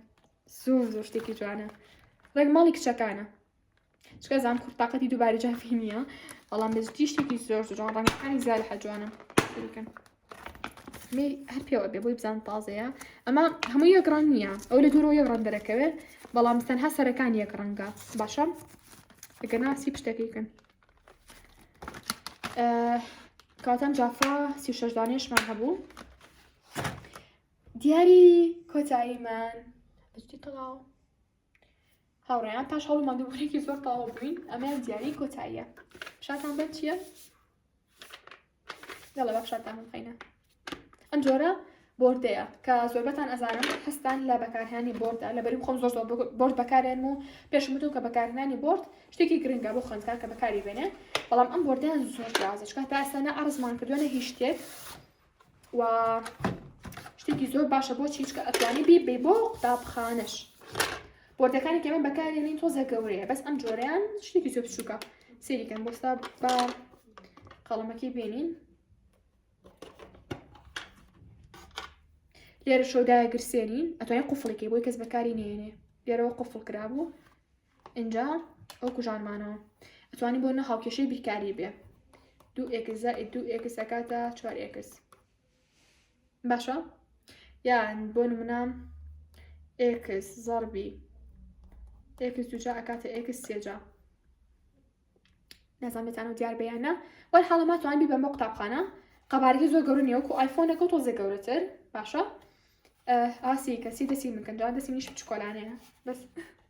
زۆر زۆر شتێکی جوانە ڕێک ماڵی کچەکانە چکە زان کورد تااقەتی دووبارە جافی نییە بەڵام بەجدی شتێکی زۆر زۆر جوان ڕەنگەکانی زیاد لە حەجوانە بکەن مێ هەر پێوە بێ بۆی بزان تازەیە ئەمە هەموو یەک ڕەنگ نییە ئەو لە دوورەوە یەک ڕەنگ دەرەکەوێت بەڵام تەنها سەرەکان یەک ڕەنگە باشە ئەگە ناسی پشتەکەی کەن کاتەم جافا سی شەشدانێشمان هەبوو دیاری کۆتاییمان بچی تەواو هاوڕێیان پاش هەڵ مادووڕێکی زۆر تەواو بووین ئەمەیان دیاری کۆتاییە شاتان بەر چییە؟ یاڵە بە شاتان بخینە ئەم جۆرە بردەیە کە زۆربەتان ئەزانم هەستان لە بەکارهانی بردە لە بەری خۆم زۆر زۆر برد بەکارێن و پێشمتون کە بەکارهنانی برد شتێکی گرنگە بۆ خوندکار کە بەکاری بێنێ بەڵام ئەم بردیان زۆر جیازشکە تا ئێستانە ئارزمان کردوێنە هیچ شتێک و شتێکی زۆر باشە بۆ چیچکە ئەتوانی بی بی بۆ قوتابخانەش بردەکانی کەمە بەکارێنین تۆزە گەورەیە بەس ئەم جۆریان شتێکی زۆر بچووکە سریکەن بۆستا بە قەڵەمەکەی بێنین لێرە شۆدایە گرسێنین ئەتوانین قفڵێکی بۆی کەس بەکاری نێنێ لێرەوە قفڵ کرابوو ئینجا ئەو کوژانمانەوە ئەتوانی بۆ نە هاوکێشەی بیرکاری بێ دوو ئێکس زائد دوو ئێکس ئەکاتە چوار ئێکس باشە یان بۆ نمونام ئێکس زەربی ئێکس دوجا ئەکاتە ئێکس سێجا نازان بێتان و دیار بیانە وەر حاڵەما توان بیبم بۆ قوتابخانە قەبارەکە زۆر گەورنی وەکو ئایفۆنەکە و تۆزە گەورەتر باشە ئاسی کەسی دەسی مکەنجا دەسی نیش چکۆلانەیە بەس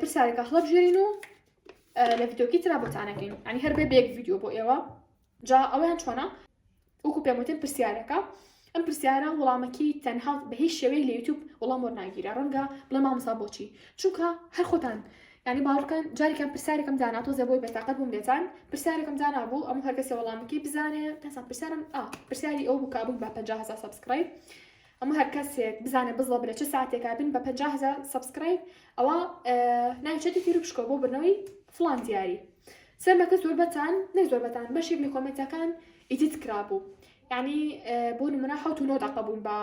پرسیارێکە هەڵەبژێرین و لە ڤیدۆکی ترا بۆتانەکەین ئەنی هەر بێ بێک ڤیددیو بۆ ئێوە جا ئەویان چۆنە وەکو پێم وتن پرسیارەکە ئەم پرسیارە وڵامەکی تەنها بە هیچ شێوەی لە یوتوب وڵام وەرناگیرە ڕەنگە بڵێ مامسا بۆچی چونکە هەر خۆتان ینی باوەڕکەن جارێکم پرسیارێکم داناتۆزە بۆی بەتاقەت بووم لێتان پرسیارێکم دانا بوو ئەم هەرگەسێ وەڵامەکەی بزانێ تاسان پرسیارم ئا پرسیاری ئەو بکبوون بە 500 سبسکرایب هەموو هەرکەسێک بزانێ بزڵە برا چ ساتێکا بن بە پەنجا هەزار سەبسکرایب ئەوا ناوی چەتی تیروب شکۆ بۆ بردنەوەی فڵان دیاری سەرمەکە زۆربەتان نەی زۆربەتان بەشێک لە کۆمنتەکان ئیدیت کرابوو یعنی بۆ نمونە حوت و نۆ دەقە بوون بە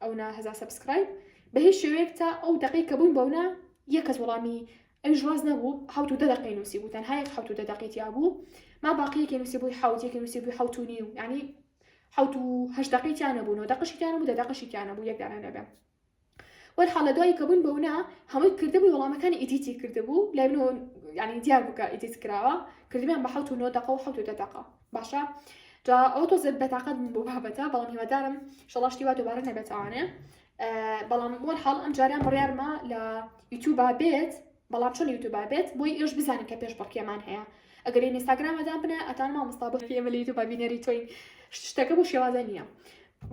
ئەونا هەزار سەبسکرایب بە هیچ شێوەیەک تا ئەو دقی کە بووین بەونا یەکەس وەڵامی ئەویش ڕاست نەبوو حەوت و دە دەقەی نووسی بوو تەنها یەک حەوت و دە دەقی تیا بوو ما باقیەکی نووسی بووی حەوت یەکی نووسی بووی حەوت و نیو یعنی حەوت و هەشت دەقی تیا نەبوون و دەقشی تیا نەبوو دە دەقشی تیا نەبوو یەک دانە نەبێ وەرحاڵە دوایی کە بوون بەونا هەمووی کردبووی وەڵامەکانی ئیدیتی کردبوو لای بنەوە یعنی دیار بکە ئیدیت کراوە کردبیان بە حەوت و نۆ دەقە و حەوت و دە دەقە باشە جا ئەو تۆزێ بەتاقەت بوو بابەتە بەڵام هیوادارم شڵاشتی وا دووبارە نەبێتوانێ بەڵام وەلحاڵ ئەم جاران بڕیارمە لە یوتوبا بێت بەڵام چۆن یوتوبا بێت بۆی ئێش بزانین کە پێش بڕکێمان هەیە ئەگەر ئینستاگرامەدا بنە ئەتان مامۆستا بە فێمە لە یوتوبا بینەری تۆین شتەکە بۆ شێوازە نییە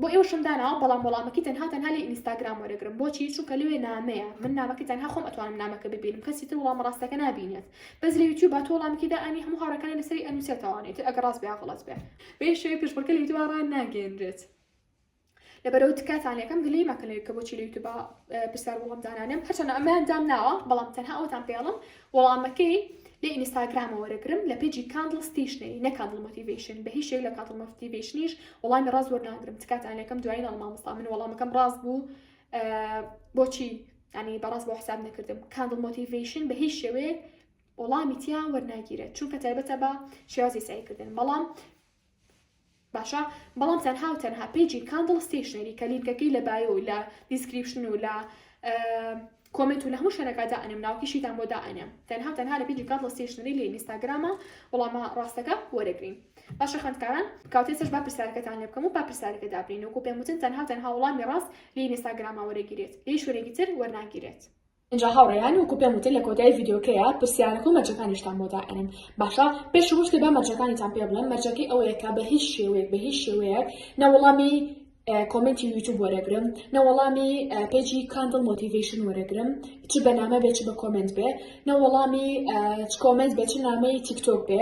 بۆ ئێوە شمدانەوە بەڵام وەڵامەکەی تەنها تەنها لە ئینستاگرام وەرەگرم بۆچی چونکە لەوێ نامەیە من نامەکە تەنها خۆم ئەتوانم نامەکە ببینم کەسی تر وڵام ڕاستەکە نبینێت بەس لە یوتیوب با تۆ وڵامکیدا ئەنی هەموو هاڕەکانی لەسەری ئەنووسێتەوانێت ئەگە ڕاست بیا غڵات بێ بێ شوێ پێشبڕکە لە یوتیوب ڕان ناگەێنرێت لەبەرەو تکاتان لەکەم گلەی مەکەن لەوەی کە بۆچی لە یوتوبا پرسیار وەڵام دانانێم هەرچەنە ئەمەیان دام ناوە بەڵام تەنها ئەوتان پێڵم وەڵامەکەی لە ئینستاگرامە وەرەگرم لە پێجی کاندڵ ستیشنەی نە کاندڵ مۆتیڤیشن بە هیچ شێک لە کاندڵ مۆتیڤیشنیش وەڵامی ڕاست وەرناگرم تکاتان لەکەم دوایی ناڵ مامۆستا من وەڵامەکەم ڕاست بوو بۆچی ینی بەڕاست بۆ حساب نەکردم کاندڵ مۆتیڤیشن بە هیچ شێوەیەک وەڵامی تیا وەرناگیرێت چونکە تایبەتە بە شێوازی سعیکردن بەڵام باشە بەڵام تەنها و تەنها پەیجی کاندڵ ستەیشنەری کە لینکەکەی لە بایۆ و لە دیسکریپشن و لە کۆمنت و لە هەموو شوێنەکە دائەنێم ناوکیشیتان بۆ دائەنێم تەنها و تەنها لە پێجی کاندڵ ستەیشنەری لە ئینستاگرامە وەڵامە ڕاستەکە وەرەگرین باشە خوێندکاران کاتێسش با پرسیارەکەتان لێ بکەم و با پرسیارەکە دابنین وەکو پێم وتن تەنها و تەنها وەڵامی ڕاست لە ئینستاگرامە وەرەگیرێت لێ شوێنێکی تر وەرناگیرێت ئینجا هاوڕێیان وەکو پێم وتت لە کۆتایی ڤیدیۆکەیا پرسیارەکە و مەرجەکانیشتان بۆ دائەنێم باشە پێش هەموو شتێ با مەرجەکانیتان پێ بڵێم مەرجەکەی ئەوەیە کە بە هیچ شێوەیەک بە هیچ شێوەیەک نە وەڵامی کۆمنتی یوتیوب وەرەگرم نە وەڵامی پێجی کاندڵ مۆتیڤیشن وەرەگرم چ بەنامە بێ چ بە کۆمنت بێ نە وەڵامی چ کۆمنت بێ چ نامەی تیکتۆک بێ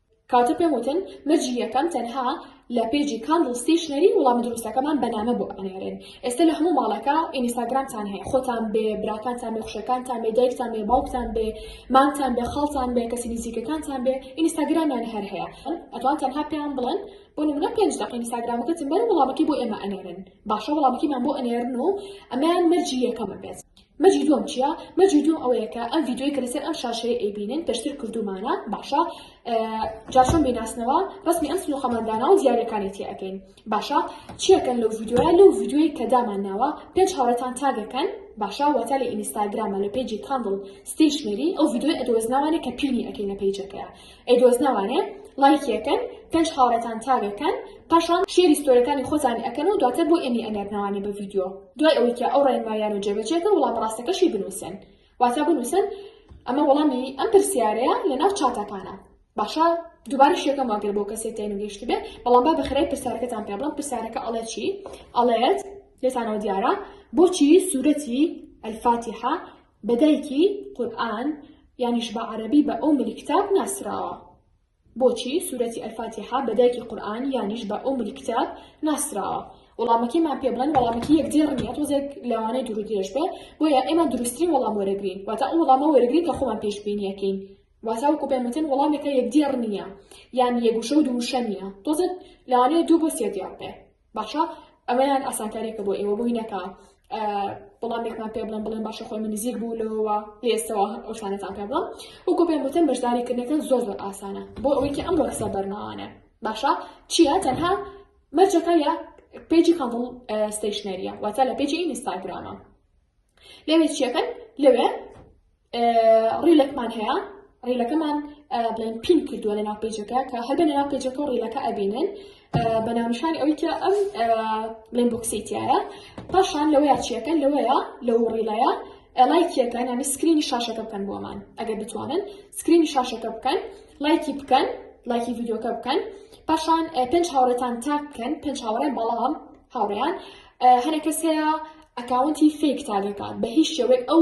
کاتێ پێم وتن مەرجی یەکەم تەنها لە پێجی کاندڵ ستیشنەری وڵامە دروستەکەمان بە نامە بۆ ئەنێرێن ئێستا لە هەموو ماڵەکە ئینیستاگرامتان هەیە خۆتان بێ براکانتان بێ خوشکانتان بێ دایکتان بێ باوکتان بێ مامتان بێ خاڵتان بێ کەسی نزیکەکانتان بێ ئینیستاگرامیان هەر هەیە ئەتوان تەنها پێیان بڵێن بۆ نمونە پێنج دقی ئینیستاگرامەکەتن بەرە وڵامەکەی بۆ ئێمە ئەنێرن باشە وڵامەکەیمان بۆ ئەنێرن و ئەمەیان مەرجی یەکەمە بێت مەرجی دووەم چیە مەرجی دووەم ئەوەیە کە ئەم ڤیدیۆی کە لەسەر ئەم شاشەیە ئەیبینن پێشتر کردومانە باشە جا چۆن بیناسنەوە ڕسمی ئەم سنووقەمان دانا و زیارەکانی تێ ئەەکەین باشە چیەکەن لەو ڤیدیۆە لەو ڤیدیۆی کە دامان ناوە پێنج هاوڕێتان تاگەکەن باشە واتا لە ئینستاگرامە لە پیجی کاندڵ ستیل شمێری ئەو ڤیدیۆی ئەدۆزناوانێک کە پینی ئەەکەین لە پیجەکەیە ئەی دۆست ناوانێ ڵایکی ئەکەن پێنج هاوڕێتان تاگ ئەکەن پاشان شێری ستۆرەکانی خۆتانی ئەکەن و دواتر بۆ ئێمی ئەنێرنەوانێ بە ڤیدیۆ دوای ئەوەی کە ئەو ڕێنمایانە جێبەجێ کرد وڵامە ڕاستەکەشی بنوسن واتا بنوسن ئەمە وەڵامی ئەم پرسیارەیە لەناو چاتەکانا باشە دوبارە شەکەم واگەر بۆ کەسێک تێن گەشت بێ بەڵام با بەخرای پرسیارەکەتان پێ بڵم پرسیارەکە ئەڵێ چی ئەڵێت لێتانەوە دیارە بۆچی سوورەتی الفاتیحە بە دایکی قورئان یانیش بە عەرەبی بە ئوم الکتاب ناسراوە؟ بۆچی سورەتی الفاتحە بە دایکی قورئان یانیش بە ئوم الکتاب ناسراوە؟ وەڵامەکەیمان پێ بڵێن وەڵامەکەی یەکجێڕ نییە تۆزێک لەوانەیە دوور و درێژ بێ بۆیە ئێمە دروستترین وەڵام وەرەگرین واتە ئەو وەڵامە وەرەگرین کە خۆمان پێشبینیەکەین واتە وەکو پێم وتن وەڵامێکە یەکدێڕ نییە یان یەک وشە و دوو وشە نییە تۆزێک لەوانەیە دوو بۆ سێ دێڕ بێ باشە ئەمە یان ئاسانکاریەکە بۆ ئێوە بۆی نەکە وڵامێکمان پێ بڵم بڵێن باشە خۆی من نزیک بوو لەوەوە پێستەوە ئەوشانەتان پێ بڵم وەکو پێم وتن بەشداریکردنەکە زۆر زۆر ئاسانە بۆ ئەوەیکە ئەم وەرسە بەرناوانە باشە چییە تەنها مەرجەکە لە پێجی کاندڵ ستیشنەریە واتە لە پێجی ئینستاگرامە لەوێ چیەکەن لەوێ ڕیلەکمان هەیە ڕیلەکەمان بڵێن پین کردووە لە ناو پێجەکە کە هەر بە ناو پێجەکە و ڕیلەکە ئەبینن بە ناونشانی ئەوی کە ئەم بڵێن بۆکسی تیارە پاشان لەوەیە چیەکەن لەوەیە لە وڕیلەیە لایکیەکە نامی سکرینی شاشەکە بکەن بۆمان ئەگەر بتوانن سکرینی شاشەکە بکەن لایکی بکەن لایکی ڤیددیوکە بکەن پاشان پێنج هاوڕێتان تاک بکەن پێنج هاوڕێ بەڵام هاوڕیان هەرە کەسەیە ئەکاونتی فێک تاگەکات بە هیچ شێوەیە ئەو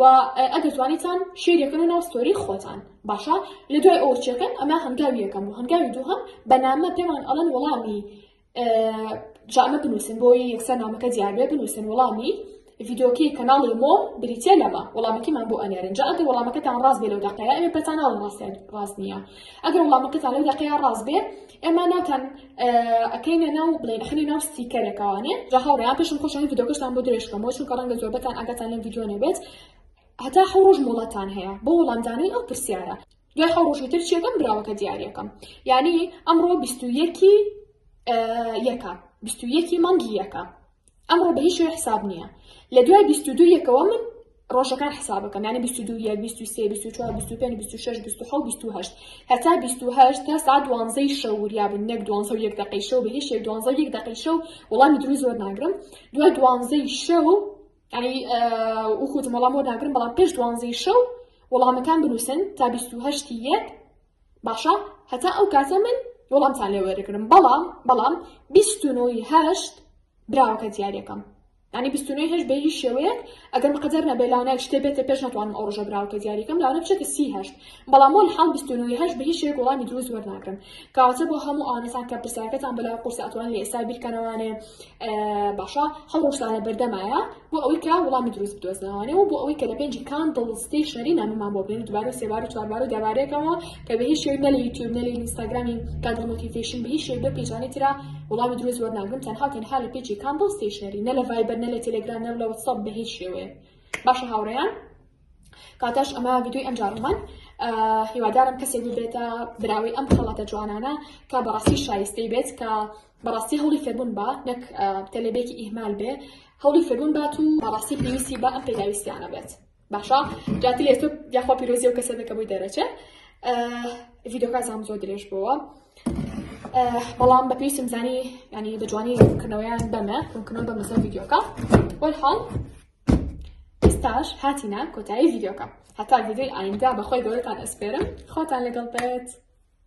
وە ئەگەر توانیتان شێری بکەن و ناو ستۆری خۆتان باشە لە دوای ئەو چێکەن ئەمە هەنگاوی یەکەم و هەنگاوی دووهەم بەنامە پێمان ئەڵەن وەڵامی جامە بنووسن بۆی یەکسەر نامەکە دیارێ بنووسن وەڵامی ڤیدۆکی کەناڵی مۆ بریتە لەمە وەڵامەکەمان بۆ ئەنێرن جا ئەگە وەڵامەکەتان ڕاست بێ لەو دەقەیە ئەمێ پێتانناڵ ڕاستێن ڕاست نییە ئەگەر وەڵامەکەتان لەو دەقەیە ڕاست بێ ئێمە ناتان ئەکەینە ناو بڵێن خنی ناو سیکەرەکەوانێ جا هاوڕیان پێشم خۆشانی یددیوکەشتان بۆ درێژکەم بۆ چونکە ڕەنگە زۆربەتان ئاگاتان لەم یددیو نەبێت هەتا حە ڕۆژ مۆڵەتان هەیە بۆ وڵامدانەوەی ئەو پرسیارە دوای حە ڕۆژی تر چیەکەم براوەکە دیارەکەم یعنی ئەمڕۆ بیستویەکی یەکە بیستویەکی مانگی یەکە ئەمڕۆ بە هیچ شوێ حساب نییە لە دوای بیست و دوو یەکەوە من ڕۆژەکان حسابەکەم یانی بیست و دوو یەک بیست و سێ بیست و چوار بیست و پێنج بیست و شەش بیست و حەوت بیست و هەشت هەتا بیست و هەشت تا سعات دوانزەی شەو وریا بن نەک دوانزە و یەک دەقەی شەو بە هیچ شێک دوانزە و یەک دەقەی شەو وەڵامی دروست زۆر ناگرم دوای دوانزەی شەو یعنی وخوتم وەڵام بۆ ناگرم بەڵام پێش دوانزەی شەو وەڵامەکان بنووسن تا بیست و هەشتی یەک باشە هەتا ئەو کاتە من وەڵامتان لێ وەرگرم بەڵام بەڵام بیست و نۆی هەشت براوەکە دیارەکەم ینی بیست و نۆی هەشت بە هیچ شێوەیەک ئەگەر مقدر نەبێ لاونای شتێ بێتە پێش ناتوانم ئەو ڕژە براوەکە دیارەکەم لاونە بچێتە سی هەشت بەڵام وەڵ حاڵ بیست و نۆی هەشت بە هیچ شێوەیەک وەڵامی دروست وەرناگرم کەواتە بۆ هەموو ئەوانەتان کە پرسیارەکەتان بەلاوە قورسە ئەتوان لە ئێستا بیرکەنەوانێ باشە هەو ڕۆژانە بەردەمایە بۆ ئەوەی کە وڵامی دروست بدۆزنەوانەوە بۆ ئەوەی کە لە پێنجی کان دڵستی شەری ناممان بۆ بێن دوبارە سێوار و چواربار و دەبارێکەوە کە بە هیچ شێوی نە لە یوتیوب نە لە ئینستاگرامی کادر مۆتیڤیشن بە هیچ شێوی بە پێچانی ترا وڵامی دروست وەرناگرم تەنها و تەنها لە پێنجی کان دڵستی شەری نە لە ڤایبەر نە لە تەلەگرام نە لە وەتسەپ بە هیچ شێوەیە باشە هاوڕێیان کاتەش ئەمە ڤیدیۆی ئەنجاممان هیوادارم کەسێک ببێتە براوەی ئەم خەڵەتە جوانانە کە بەڕاستی شایستەی بێت کە بەڕاستی هەوڵی فێربوون با نەک تەلەبێکی ئیهمال بێ هەوڵی فێربوون بات و بەڕاستی پێویستی بە ئەم پێداویستیانە بێت باشە جاتی لێت یاخوا پیرۆزی و کەسە دەکە بووی دەرەچێ ڤیدۆکازان زۆر درێژ بووە بەڵام بە پێویستم زانی ینی بە جوانی کردنەوەیان بەمە کردنەوە بە مەسەر ڤیددیوکە وەرحاڵ ئێستاش هاتینا کۆتایی ڤیددیوکە هەتا ڤیددیوی ئایندا بەخۆی گەورەتان ئەسپێرم خۆتان لەگەڵ بێت.